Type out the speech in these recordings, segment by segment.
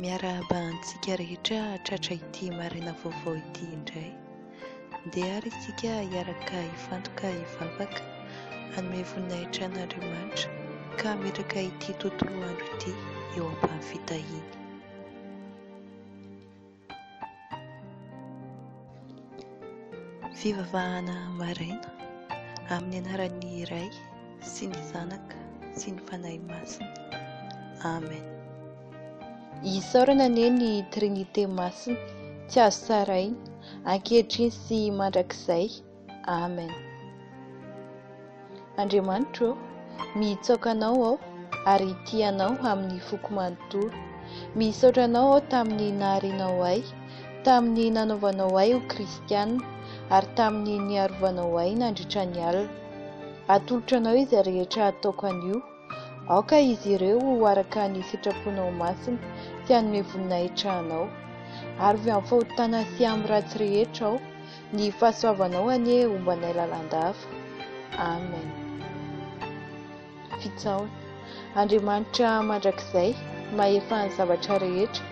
Miarahaba antsika rehetra tratra ity maraina vaovao ity indray. Ndeha ary isika hiaraka hifantoka hivavaka hanome voninahitra an'Andriamanitra ka hametraka ity tontolo andro ity eo am-pahafitahiny. Fivavahana maraina amin'ny anaran'ny Ray sy ny Zanaka sy ny Fanahy Masina. Amen. Isaorana anie ny Trinite Masina, tsy azo tsaraina, ankehitriny sy mandrakizay. Amen. Andriamanitro ô, mihitsaoka Anao aho ary tia Anao amin'ny foko manontolo. Misaotra Anao aho tamin'ny naharianao ahy, tamin'ny nanaovanao ahy ho kristiana, ary tamin'ny niarovanao ahy nandritra ny alina. Atolotro Anao izay rehetra ataoko anio Aoka izy ireo ho araka ny sitraponao masina, sy hanome voninahitra anao. Arovy amin'ny fahotana sy amin'ny ratsy rehetra aho, ny fahasoavanao anie homba anay lalandava. Amen. Fitsahona. Andriamanitra mandrakizay, mahefa ny zavatra rehetra,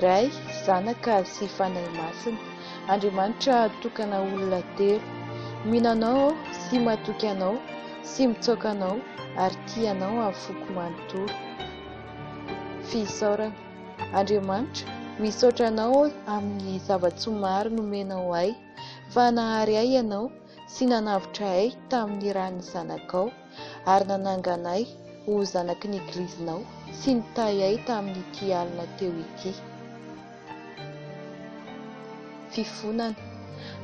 Ray, Zanaka, sy Fanahy Masina. Andriamanitra tokana olona telo, mino Anao aho sy matoky Anao sy mitsaoka Anao ary tia Anao amin'ny foko manontolo. Fisaorana. Andriamanitra, misaotra Anao aho amin'ny zava-tsoa maro nomenao ahy, fa nahary ahy Ianao sy nanavotra ay tamin'ny ran'ny Zanakao, ary nanangana ay ho zanaky ny Egilizinao, sy nitahy ay tamin'ity alina teo ity. Fifonana.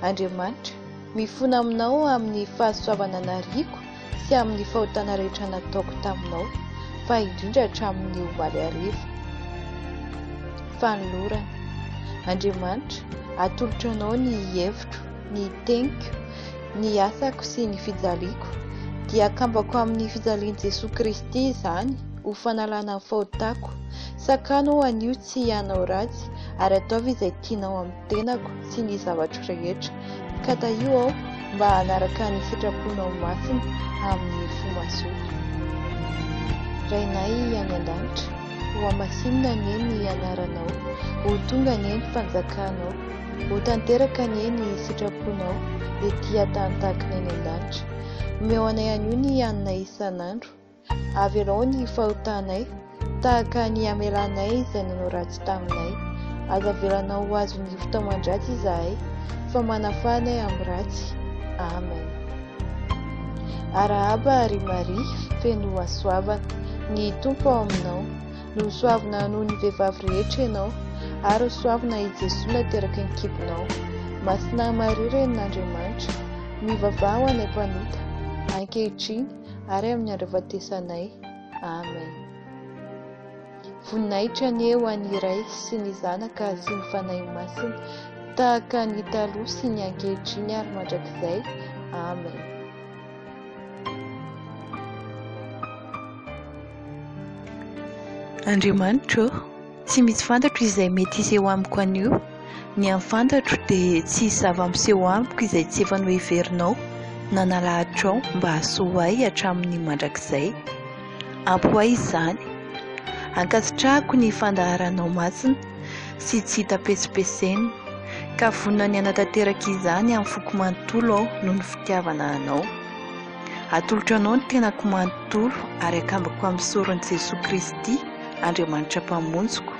Andriamanitra, mifona aminao amin'ny fahasoavana nariako, sy amin'ny fahotana rehetra nataoko taminao, fa indrindra hatramin'ny omaly hariva. Fanolorana. Andriamanitra, atolotro anao ny hevitro, ny teniko, ny asako sy ny fijaliako, dia akambako amin'ny fijalian'i Jesoa Kristy izany ho fanalana ny fahotako, sakano aho anio tsy hanao ratsy ary ataovy izay tianao amin'ny tenako sy ny zavatro rehetra. Katahiho aho mba hanaraka ny sitraponao masina amin'ny fo mazoto. Rainay any an-danitra, hohamasinina anie ny anaranao, ho tonga anie ny fanjakanao, ho tanteraka anie ny sitraponao ety an-tany tahaka ny any an-danitra. Omeo anay anio ny haninay isan'andro. Avelao ny fahotanay, tahaka ny hamelanay izay nanao ratsy taminay. Aza avelanao ho azon'ny fitaoman-dratsy izahay, fa manafaha anay amin'ny ratsy. Amen. Arahaba ry Maria, feno hasoavana. Ny Tompo ao aminao. Nosoavina noho ny vehivavy rehetra ianao, ary hosoavina i Jesoa nateraky ny kibonao. Masina Maria, Renin'Andriamanitra, mivavaha ho anay mpanota, ankehitriny, ary amin'ny andro hahafatesanay. Amen. Voninahitra anie ho an'ny Ray sy ny Zanaka sy ny Fanahy Masina, tahaka ny taloha sy ny ankehitriny ary mandrakizay. Amen. Andriamanitra ô, Tsy misy fantatro izay mety hiseho amiko anio. Ny an'ny fantatro dia tsy hisy zava-miseho amiko izay tsy efa noheverinao na nalahatrao mba hahasoa ahy hatramin'ny mandrakizay. Ampy ho ahy izany. Ankasitrahako ny fandaharanao masina sy tsy hita petsipesena, ka vonona ny hanatanteraka izany amin'ny foko manontolo aho noho ny fitiavana anao. Atolotro Anao ny tenako manontolo ary akambako amin'ny soron'i Jesoa Kristy, Andriamanitra Mpamonjiko.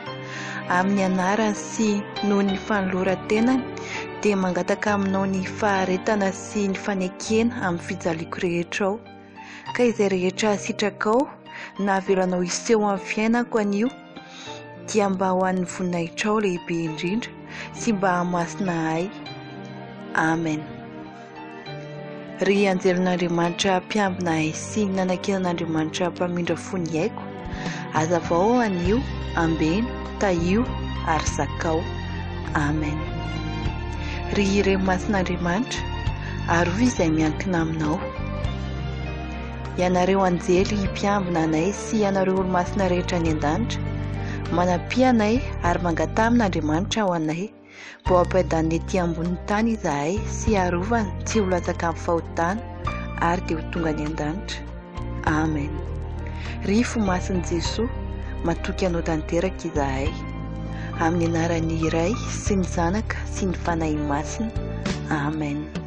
Amin'ny anarany sy noho ny fanoloran-tenany, dia mangataka Aminao ny faharetana sy ny fanekena amin'ny fijaliako rehetra ao. Ka izay rehetra sitrakao, navelanao hiseho amin'ny fiainako anio, dia mba ho an'ny voninahitrao lehibe indrindra sy mba hahamasina ahy. Amen. Ry anjelon'Andriamanitra mpiambina ahy sy nanankinan'Andriamanitra mpamindra fo ny aiko, azavao anio, ambeno, tahio ary zakao. Amen. Ry ireny masin'Andriamanitra, arovy izay miankina aminao. Ianareo anjely mpiambina anay sy ianareo olo-masina rehetra any an-danitra, manampia anay ary mangataha amin'Andriamanitra ho anay mba ho ampiadaniny ety ambonin'ny tany izahay sy harovany tsy ho latsaka amin'ny fahotana ary dia ho tonga any an-danitra. Amen. Ry Fo Masin'i Jesoa, matoky Anao tanteraka izahay. Amin'ny anaran'ny Ray sy ny Zanaka sy ny Fanahy Masina. Amen.